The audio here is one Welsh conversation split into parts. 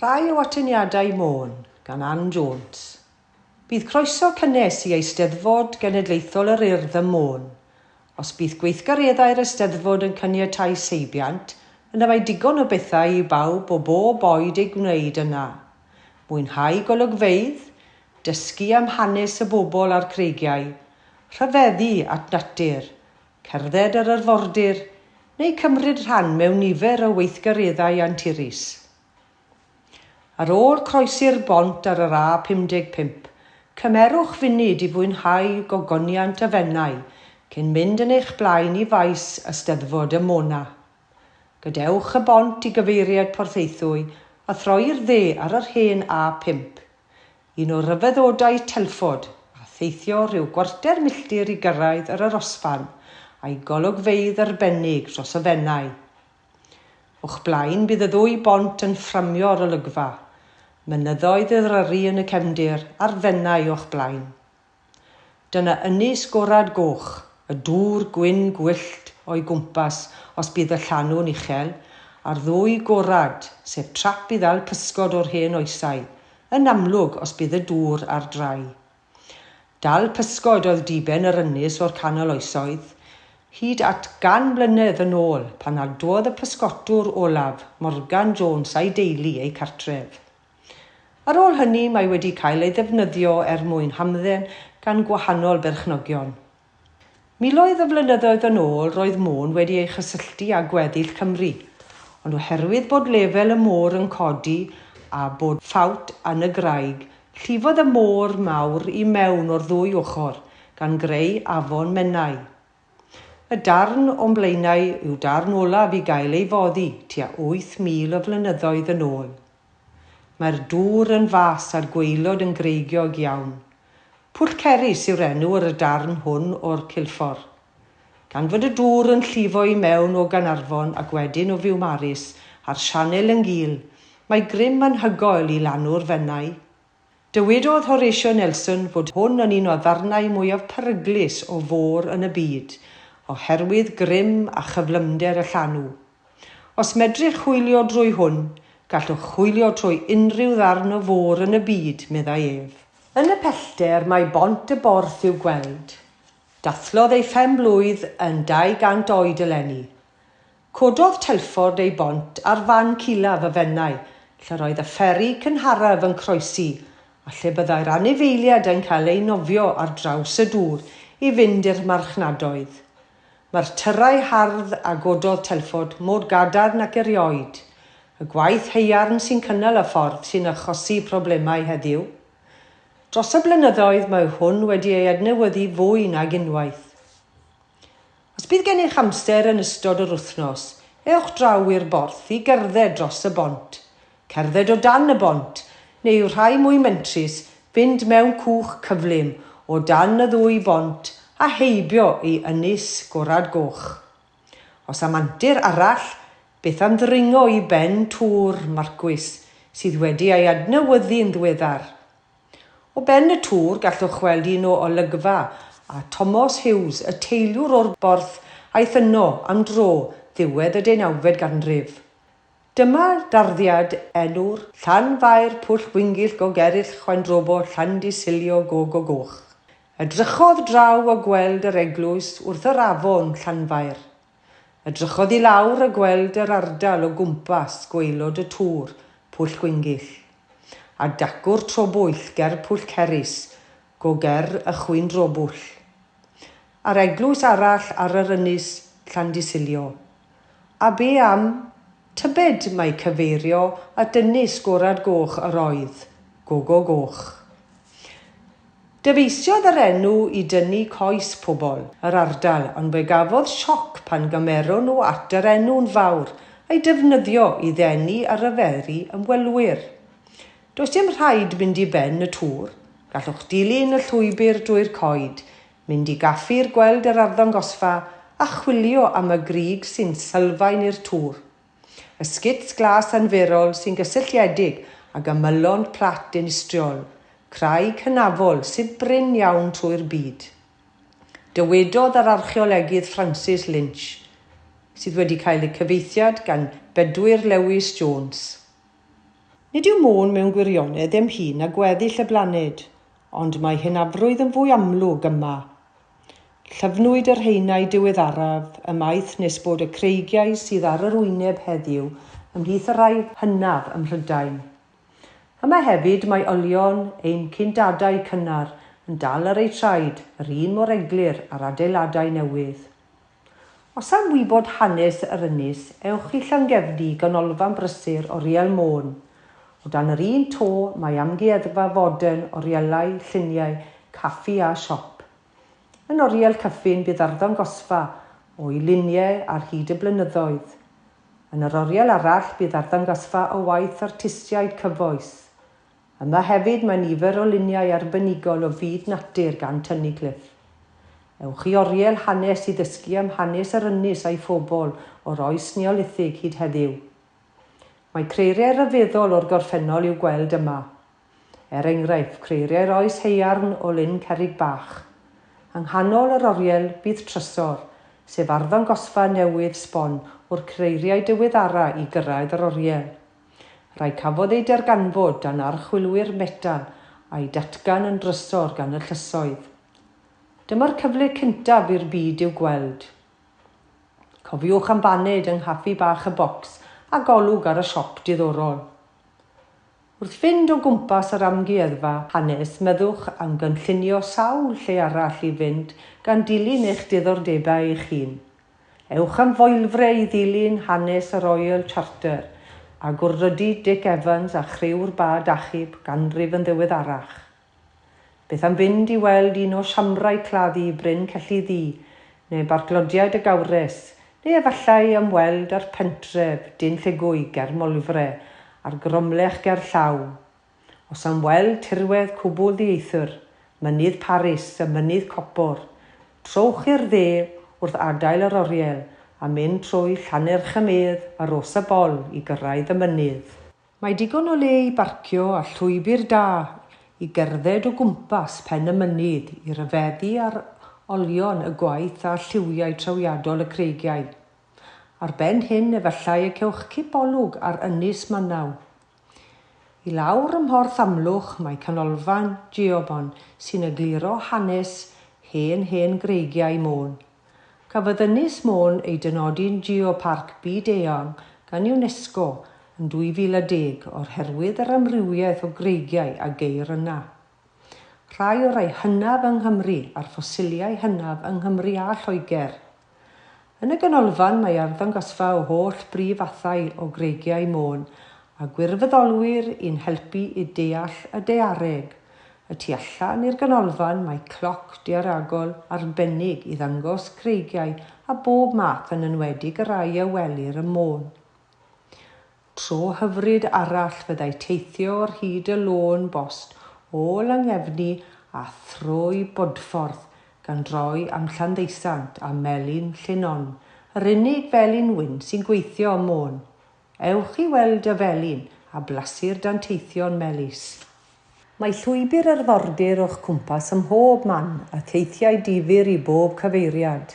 Rhai o atyniadau Môn, gan Ann Jones. Bydd croeso cynnes i Eisteddfod Genedlaethol yr Urdd ym Môn. Os bydd gweithgareddau'r Eisteddfod yn caniatáu seibiant, yna mae digon o bethau i bawb o bob oed eu gwneud yna. Mwynhau golygfeydd, dysgu am hanes y bobl a'r creigiau, rhyfeddu at natur, Cerdded yr arfordir, neu cymryd rhan mewn nifer o weithgareddau anturus. Ar ôl croesi'r bont ar yr A55, cymerwch funud i fwynhau gogoniant y Fenai cyn mynd yn eich blaen i faes Eisteddfod y Mona. Gadewch y bont i gyfeiriad Porthaethwy a throi'r dde ar yr hen A55. Un o ryfeddodau Telford a theithio rhyw gwarter milltir i gyrraedd yr arosfan a'i golygfeydd arbennig dros y Fenai. O'ch blaen bydd y ddwy bont yn fframio'r olygfa, mynyddoedd Eryri yn y cefndir a'r Fenai o'ch blaen. Dyna ynys gorad goch, y dŵr gwyn gwyllt o'i gwmpas os bydd y llanw'n uchel, a'r ddwy gorad, sef trap i ddal pysgod o'r hen oesau, yn amlwg os bydd y dŵr ar drai. Dal pysgod oedd diben yr ynys o'r canol oesoedd, hyd at gan mlynedd yn ôl pan adwodd y pysgotwr olaf, Morgan Jones a'i deulu eu cartref. Ar ôl hynny mae wedi cael ei ddefnyddio er mwyn hamdden gan gwahanol berchnogion. Miloedd o flynyddoedd yn ôl roedd Môn wedi ei chysylltu â gweddill Cymru, ond oherwydd bod lefel y môr yn codi a bod ffawt yn y graig, llifodd y môr mawr i mewn o'r ddwy ochr, gan greu afon Menai. Y darn o'n blaenau yw darn olaf i gael ei foddi tua 8,000 o flynyddoedd yn ôl. Mae'r dŵr yn fas a'r gwaelod yn greigiog iawn. Pwll Cerris yw'r enw ar y darn hwn o'r Cilffordd. Gan fod y dŵr yn llifo i mewn o Gaernarfon ac wedyn o Fiwmaris a'r sianel yn gul, mae grym anhygoel i lanw'r Fenai. Dywedodd Horatio Nelson fod hwn yn un o ddarnau mwyaf peryglus o fôr yn y byd, oherwydd grym a chyflymder y llanw. Os medrech chwilio drwy hwn, gallwch chwilio trwy unrhyw ddarn o fôr yn y byd, meddai ef. Yn y pellter mae Bont y Borth i'w gweld. Dathlodd ei phen-blwydd yn 200 oed eleni. Cododd Telford ei bont ar fan culaf y Fenai, lle roedd y fferi cynharaf yn croesi, a lle byddai'r anifeiliaid yn cael eu nofio ar draws y dŵr i fynd i'r marchnadoedd. Mae'r tyrrau hardd a gododd Telford mor gadarn ac erioed. Y gwaith haearn sy'n cynnal y ffordd sy'n achosi problemau heddiw. Dros y blynyddoedd mae hwn wedi ei adnewyddu fwy nag unwaith. Os bydd gennych amser yn ystod yr wythnos, ewch draw i'r borth i gerdded dros y bont, cerdded o dan y bont, neu, rhai mwy mentrus, fynd mewn cwch cyflym o dan y ddwy bont a heibio i Ynys Gorad Goch. Os am antur arall, beth am ddringo i ben Tŵr Marcwys, sydd wedi ei adnewyddu'n ddiweddar? O ben y tŵr gallwch weld un o olygfa a Tomos Hughes, y teiliwr o'r Borth aeth yno am dro ddiwedd y deunawfed ganrif. Dyma darddiad enw'r llan faer Pwll Gwyngyll Gog Eryll Chwaen Drobo Llandy Silio Gog o Goch. Edrychodd draw a gweld yr eglwys wrth yr afon Llanfair. Edrychodd i lawr a gweld yr ardal o gwmpas, gwaelod y tŵr, Pwll Gwyngyll. A dacw'r tro bwyll ger Pwll Cerys, go ger y chwyndro bwll. A'r eglwys arall ar yr ynys, Llandysilio. A be am Tybed mai cyfeirio at dynnu sgorad goch yr oedd, Gogo Goch. Dyfeisiodd yr enw i dynnu coes pobl yr ardal ond fe gafodd sioc pan gymeron nhw at yr enw'n fawr a'i defnyddio i ddenu a ryfeddu ymwelwyr. Does dim rhaid mynd i ben y tŵr, gallwch dilyn y llwybr drwy'r coed mynd i gaffi ir gweld yr arddangosfa a chwilio am y grug sy'n sylfaen i'r tŵr. Y sgits glas anferol sy'n gysylltiedig ag ymylon plat dinistriol, craig hynafol sydd brin iawn trwy'r byd. Dywedodd yr archeolegydd Francis Lynch, sydd wedi cael y cyfeithiad gan Bedwyr Lewis Jones. Nid yw Môn mewn gwirionedd ddim hŷn na gweddill y blaned, Ond mae hynafrwydd yn fwy amlwg yma. Llyfnwyd yr haenau diweddaraf ymaith nes bod y creigiau sydd ar yr wyneb heddiw ymhlith y rhai hynaf ym Mhrydain. Yma hefyd mae olion ein cyndadau cynnar yn dal ar eu traed yr un mor eglur â'r adeiladau newydd. Os am wybod hanes yr ynys, ewch i Llangefni, ganolfan brysur oriel Môn. O dan yr un to, mae amgueddfa fodern, orielau, lluniau, caffi a siop. Yn oriel Cyffin bydd arddangosfa o'i luniau ar hyd y blynyddoedd. Yn yr oriel arall bydd arddangosfa o waith artistiaid cyfoes. Yma hefyd mae nifer o luniau arbenigol o fyd natur gan Tynnu Cliff. Ewch i Oriel Hanes i ddysgu am hanes yr ynys a'i phobl o'r oes Neolithig hyd heddiw. Mae creiriau rhyfeddol o'r gorffennol i'w gweld yma. Er enghraifft, creiriau'r oes haearn o Lyn Cerrig Bach. Yng nghanol yr oriel bydd trysor, sef arddangosfa newydd sbon o'r creiriau diweddara i gyrraedd yr oriel. Rai cafodd eu darganfod dan archwilwyr metan a'u datgan yn drysor gan y llysoedd. Dyma'r cyfle cyntaf i'r byd i'w gweld. Cofiwch am baned yng nghaffi bach y Bocs a golwg ar y siop diddorol. Wrth fynd o gwmpas yr Amgueddfa Hanes meddwch am gynllunio sawl lle arall i fynd gan dilyn eich diddordebau eich hun. Ewch am foelfre i ddilyn hanes y Royal Charter a gwrddodi Dic Evans a chriw'r bad achub ganrif yn ddiweddarach. Beth am fynd i weld un o siambrau claddu Bryn Celli Ddu, neu Barclodiad y Gawres, neu efallai ymweld â'r pentref Dinlleugwy ger Moelfre a'r Gromlech gerllaw, Os am weld tirwedd cwbl ddieithr, Mynydd Paris a Mynydd Copor, trowch i'r dde wrth adael yr oriel a mynd trwy Llanerch-y-medd a Rhos-y-bol i gyrraedd y mynydd. Mae digon o le i barcio a llwybr da i gerdded o gwmpas pen y mynydd i ryfeddu ar olion y gwaith a lliwiau trawiadol y creigiau. Ar ben hyn efallai y cewch cipolwg ar Ynys Manaw, I lawr ym Mhorth Amlwch mae Canolfan Geobon sy'n egluro hanes hen hen greigiau Môn. Cafodd Ynys Môn ei dynodi'n Geoparc Byd-eang gan UNESCO yn 2010 o'r herwydd yr amrywiaeth o greigiau a geir yna. Rhai o rai hynaf yng Nghymru a'r ffosiliau hynaf yng Nghymru a Lloegr. Yn y ganolfan mae arddangosfa o holl brif fathau o greigiau Môn a gwirfoddolwyr i'n helpu i deall y daeareg. Y tu allan i'r ganolfan mae cloc daearegol arbennig i ddangos creigiau a bob math yn enwedig y rhai a welir ym Môn. Tro hyfryd arall fyddai teithio ar hyd y lôn bost o Langefni a thrwy Bodffordd, gan droi am Llanddeusant a Melin Llinon, yr unig felin wyn sy'n gweithio ym Môn. Ewch i weld y felin a blasu'r danteithion melys. Mae llwybr arfordir o'ch cwmpas ym mhob man a theithiau difyr i bob cyfeiriad.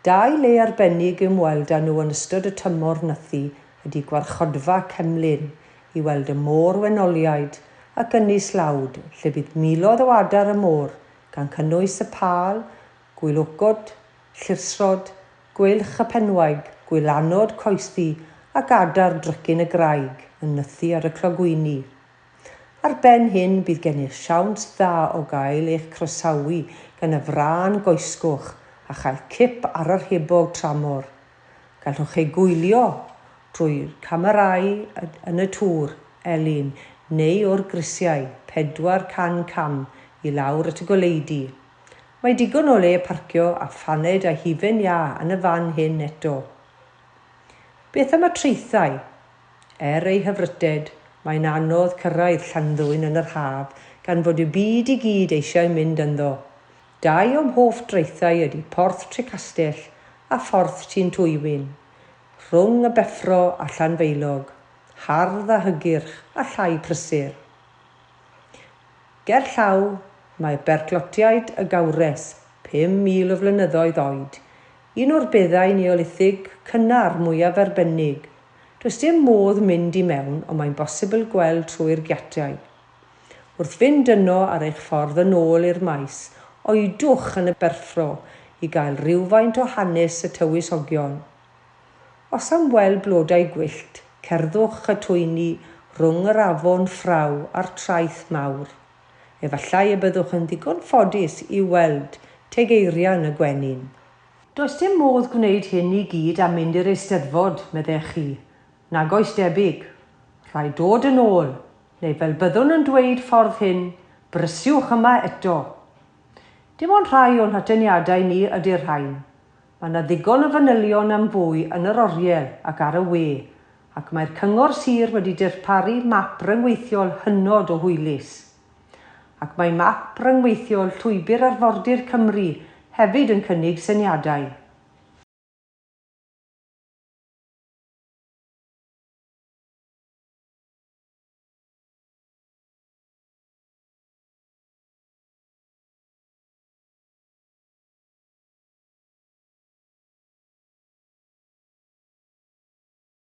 Dau le arbennig i ymweld â nhw yn ystod y tymor nythu ydy Gwarchodfa Cemlyn i weld y môr wenoliaid ac Ynys Lawd lle bydd miloedd o adar y môr gan cynnwys y pâl, gwilogod, llirsrod, gweilch y penwaig, gwylanod coesddu ac adar drycin y graig yn nythu ar y clogwyni. Ar ben hyn, bydd gennych siawns dda o gael eich croesawu gan y frân goesgoch a chael cip ar yr hebog tramor. Gallwch ei gwylio drwy'r camerâu yn y tŵr, elyn neu o'r grisiau 400 cam i lawr at y goleudy. Mae digon o le parcio a phaned a hufen iâ yn y fan hyn eto. Beth am y traethau? Er ei hyfrytted, mae'n anodd cyrraedd Llanddwyn yn yr haf gan fod y byd i gyd eisiau mynd ynddo. Dau o'm hoff draethau ydy Porth Trecastell a Phorth Tun Twywyn. Rhwng y Beffro a Llanfaelog, hardd a hygyrch a llai prysur. Ger llaw, mae Berclotiaid y Gawres, 5,000 o flynyddoedd oed, un o'r beddau Neolithig cynnar mwyaf arbennig Does dim modd mynd i mewn ond mae'n bosibl gweld trwy'r giatiau. Wrth fynd yno ar eich ffordd yn ôl i'r maes, oedwch yn y berffro i gael rhywfaint o hanes y tywysogion. Os am weld blodau gwyllt, cerddwch y twyni rhwng yr afon Ffraw a'r traeth mawr. Efallai y byddwch yn ddigon ffodus i'w weld teg eirian y gwenyn. Does dim modd gwneud hyn i gyd a mynd i'r Eisteddfod, meddech chi? Nag oes debyg. Rhaid dod yn ôl, neu fel byddwn yn dweud ffordd hyn, brysiwch yma eto. Dim ond rhai o'n hatyniadau ni ydy'r rhain. Mae 'na ddigon o fanylion am fwy yn yr oriel ac ar y we, ac mae'r Cyngor Sir wedi dirparu map ryngweithiol hynod o hwylus. Ac mae map ryngweithiol Llwybr Arfordir Cymru hefyd yn cynnig syniadau.